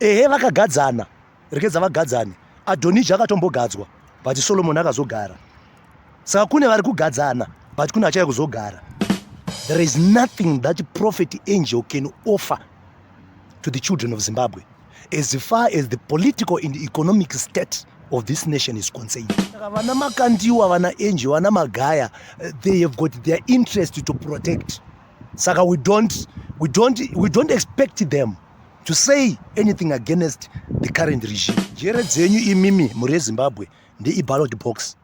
Ehe vakagadzana, rekedza vagadzane. Adonija akatombogadzwa but Solomon akazogara. Saka kune vari kugadzana but kune achaya kuzogara. There is nothing that prophet angel can offer to the children of Zimbabwe as far as the political and economic state of this nation is concerned. Vana Makandiwa, vana Angel, vana Magaya, eh, they have got their interest to protect. Saka we don't, we don't, we don't expect them to say anything against the current regime njere dzenyu imimi mhuri yezimbabwe ndeiballot box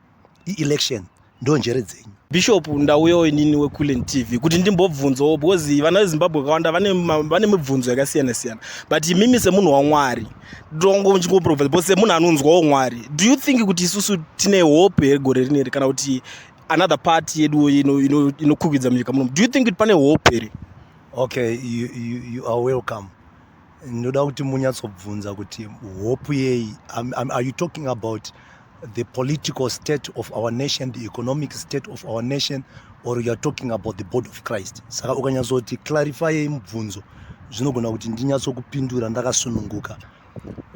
ielection ndo njere dzenyu bishop ndauyawo inini weculen tv kuti ndimbobvunzawo because vana vezimbabwe vakawanda vane mibvunzo yakasiyana siyana but imimi semunhu wamwari ndongochingoprovisa because semunhu anonzwawo mwari do you think kuti isusu tine hope here gore rineri kana kuti another part yedu inokukwidza munyika munomu do you think kuti pane hope here Okay, you, you, you are welcome. Ndoda kuti munyatsobvunza kuti hope yei. Are you talking about the political state of our nation, the economic state of our nation or you are talking about the body of Christ? Saka ukanyatsoti clarify mubvunzo zvinogona kuti ndinyatsokupindura ndakasununguka.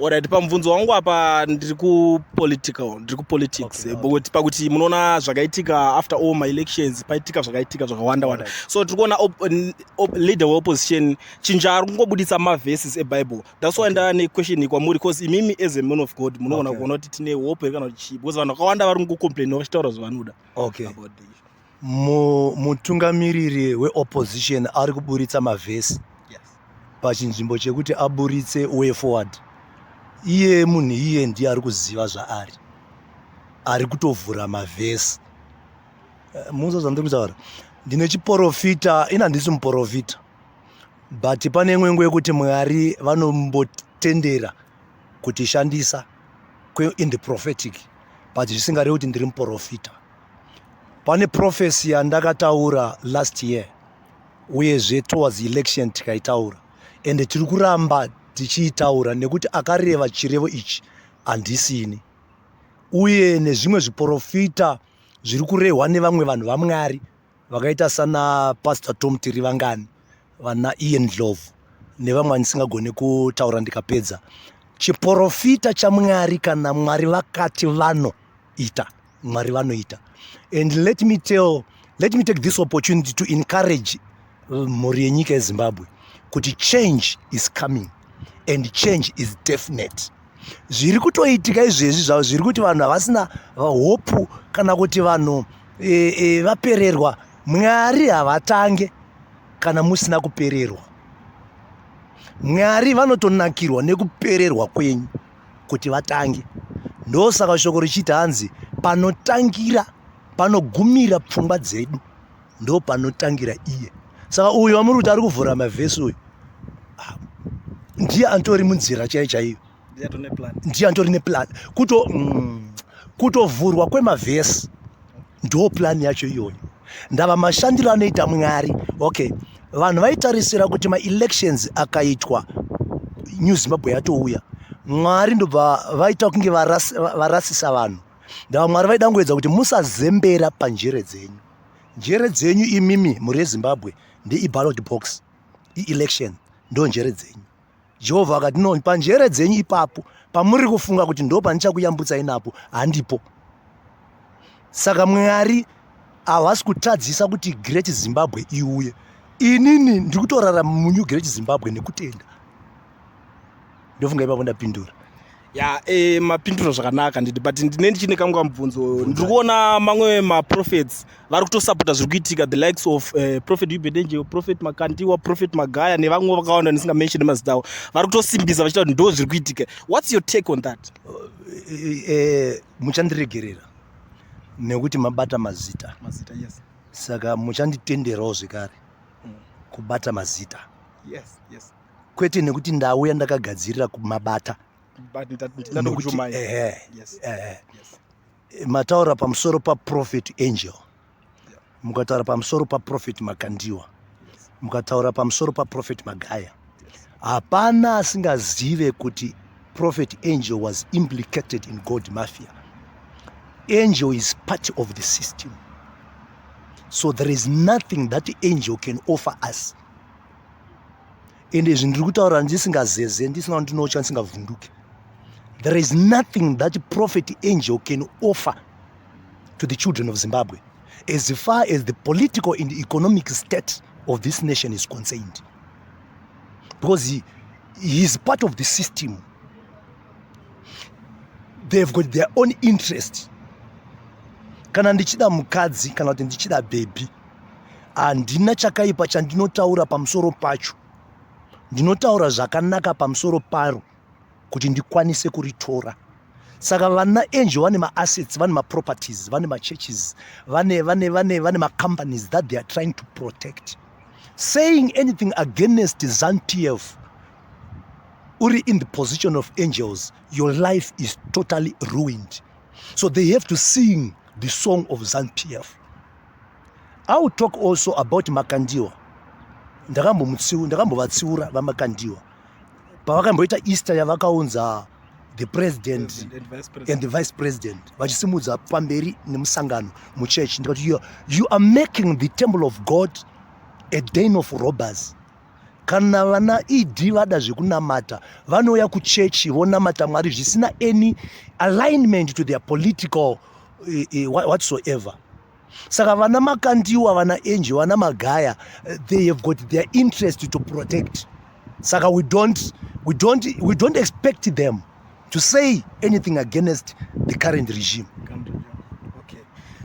Alright, pamubvunzo wangu apa ndiri kupolitical, ndiri kupolitics okay, okay. Eh, pakuti munoona zvakaitika after all my elections paitika zvakaitika zvakawanda wanda right. so tiri kuona op, op, leader weopposition chinja ari kungobuditsa maverses ebible that's why okay. ndaa nequestion kwamuri because imimi as a man of god munogona okay. kuona kuti tine hope here kana kuti chii because vanhu vakawanda vari kungocomplaina vachitaura zvavanoda okay. about this Mutungamiriri weopposition ari kuburitsa mavhesi pachinzvimbo chekuti aburitse way forward. Iye munhu iye ndiye ari kuziva zvaari, ari kutovhura mavhesi. Eh, Muzo zvandiri kutaura, ndine chiporofita, ini handisi muporofita, but pane imwe nguva yekuti Mwari vanombotendera kutishandisa in the prophetic, but zvisingarevi kuti ndiri muporofita. pane prophecy yandakataura last year uyezve towards election tikaitaura ende tiri kuramba tichiitaura nekuti akareva chirevo ichi handisini uye nezvimwe zviporofita zviri kurehwa nevamwe vanhu vamwari vakaita sana pastor tom tirivangani vana ian dlovu nevamwe andisingagone kutaura ndikapedza chiporofita chamwari kana mwari vakati vanoita mwari vanoita and let me tell let me take this opportunity to encourage uh, mhuri yenyika yezimbabwe kuti change is coming and change is definite zviri kutoitika izvezvi zvavo zviri kuti vanhu havasina hopu kana kuti vanhu e, e, vapererwa mwari havatange kana musina kupererwa mwari vanotonakirwa nekupererwa kwenyu kuti vatange ndosaka shoko richiti hanzi panotangira panogumira pfungwa dzedu ndo panotangira iye saka uyu wamuri kuti ari kuvhura mavhesi uyu ah, ndiye antori munzira chaiyo chaiyo ndiye antori neplan kuto mm, kutovhurwa kwemavhesi ndo plan yacho iyoyo ndava mashandiro anoita mwari okay vanhu vaitarisira kuti maelections akaitwa new zimbabwe yatouya mwari ndobva vaita kunge varasisa vanhu ndava mwari vaidangoedza kuti musazembera panjere dzenyu njere dzenyu imimi mhuri yezimbabwe ndeiballot box ielection ndo njere dzenyu jehovha akati no panjere dzenyu ipapo pamuri kufunga kuti ndo pandichakuyambutsai napo handipo saka mwari havasi kutadzisa kuti great zimbabwe iuye inini ndiri kutorarama munew great zimbabwe nekutenda ndofunga ipapo ndapindura ya e, mapinduro zvakanaka nditi but ndine ndichine kamwe kamubvunzo ndiri kuona mamwe maprofets vari kutosapota zviri kuitika the likes of uh, eh, prophet ubedenje prophet makandiwa prophet magaya nevamwe vakawanda ndisinga mention mazita avo vari kutosimbisa vachita kuti ndo zviri kuitika what's your take on that uh, uh, muchandiregerera nekuti mabata mazita mazita yes saka muchanditenderawo zvekare mm. kubata mazita yes yes kwete nekuti ndauya ndakagadzirira kumabata mataura pamusoro paprofet angel mukataura pamusoro paprofet makandiwa mukataura pamusoro paprofet magaya hapana asingazive kuti prophet angel was implicated in gold mafia angel is part of the system so there is nothing that angel can offer us ende izvi ndiri kutaura ndisingazeze ndisina kundinocha ndisingavhunduke there is nothing that prophet angel can offer to the children of zimbabwe as far as the political and economic state of this nation is concerned because he, he is part of the system they've got their own interest kana ndichida mukadzi kana kuti ndichida bhebhi handina chakaipa chandinotaura pamusoro pacho ndinotaura zvakanaka pamusoro paro kuti ndikwanise kuritora saka vana angel vane maassets vane maproperties vane machurches vane vane vane vane macompanies that they are trying to protect saying anything against zantf uri in the position of angels your life is totally ruined so they have to sing the song of zantf I will talk also about Makandiwa. Ndakambomutsiu, ndakambovatsiura vaMakandiwa. Pavakamboita Easter yavakaunza the president, president and, vice president. and the vice president vachisimudza pamberi nemusangano muchurch ndikati you, you are making the temple of God a den of robbers. kana vana ed vada zvekunamata vanouya kuchechi vonamata mwari zvisina any alignment to their political eh, eh, whatsoever saka vana makandiwa vana enji vana magaya eh, they have got their interest to protect saka we don't, we don't, we don't expect them to say anything against the current regime okay.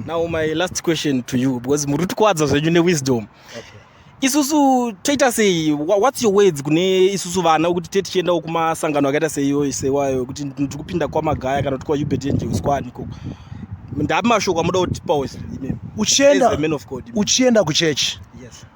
now my last question to you because muri kutikwadza zvenyu newisdom okay isusu toita sei whats your words kune isusu vana wekuti te tichiendawo kumasangano akaita seiyoyi seiwayo wekuti ndiri kupinda kwamagaya kana kuti kwaubert angels kwani ikoko ndapi mashoko amuda kutipawo uchienda kuchechi yes.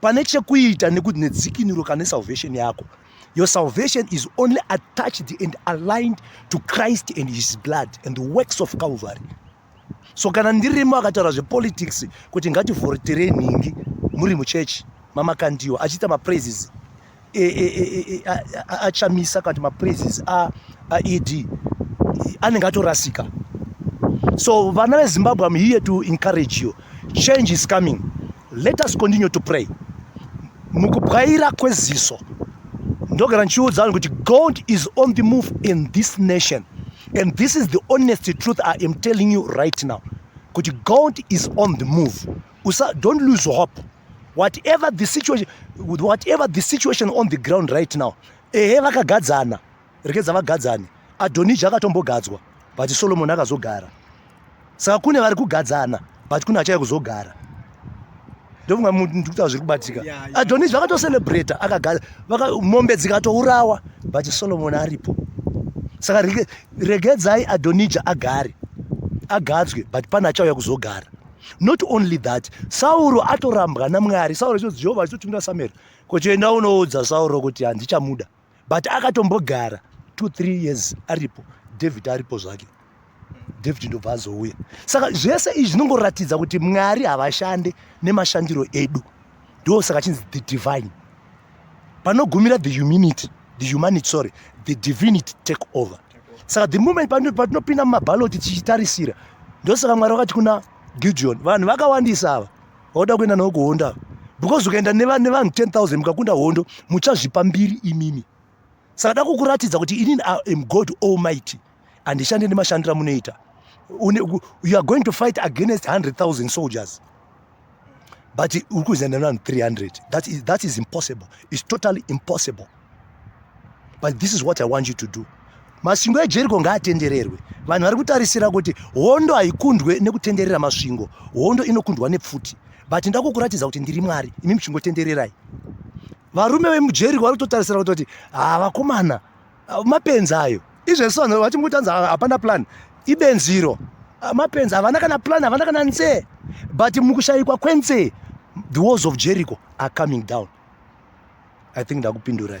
pane chekuita nedzikinuro kana nesalvation yako your salvation is only attached and aligned to christ and his blood and the works of calvary so kana ndirimo akataura zvepolitics kuti ngativhoritere nhingi muri muchechi mamakandiwa achiita mapraises achamisa kana kuti mapraises aed anenge atorasika so vana vezimbabwe am here to encourage you change is coming let us continue to pray mukubwaira kweziso ndogara ndichiudza vanhu kuti god is on the move in this nation and this is the honest truth i am telling you right now kuti god is on the move Usa, don't lose hope whatever the situation whatever the situation on the ground right now ehe vakagadzana rekedza vagadzane adhonija akatombogadzwa but solomoni akazogara saka kune vari kugadzana but kune achaya kuzogara ndofunga ndikutaura zviri kubatika adhonija vakatocelebrata mombe dzikatourawa but solomoni aripo saka regedzai adhonija agare agadzwe but pane achauya kuzogara not only that sauro atorambwa namwari sauro chinozi jehovha achitotumira samueri kochienda unoudza sauro kuti handichamuda but akatombogara two three years aripo david aripo zvake david ndobva azouya saka zvese izvi zvinongoratidza kuti mwari havashande nemashandiro edu ndo saka chinzi the divine panogumira the humanity the humanity sorry the divinity take over saka the moment patinopinda mumabaloti tichitarisira ndo saka mwari vakati kuna gideon vanhu vakawandisa ava vauda kuenda navo kuhonda because ukaenda nevanhu 10 000 mukakunda hondo muchazvipa mbiri imimi saka dakukuratidza kuti inini am god almighty handishande nemashandira munoita you are going to fight against 100000 soldiers but uri kuzenda nevanhu 300 that is, that is impossible its totally impossible but this is what i want you to do masvingo ejeriko ngaatendererwe vanhu vari kutarisira kuti hondo haikundwe nekutenderera masvingo hondo inokundwa nepfuti but ndakukuratidza kuti ndiri mwari imi muchingotendererai varume vemujeri vari kutotarisira kutoti ha ah, vakomana ah, mapenzi ayo izvezvi vanhu vati mukutanzi ah, hapana plan ibenziro mapenzi havana kana plan havana kana nzee but mukushayikwa kwenzee the walls of jericho are coming down i think ndakupindurai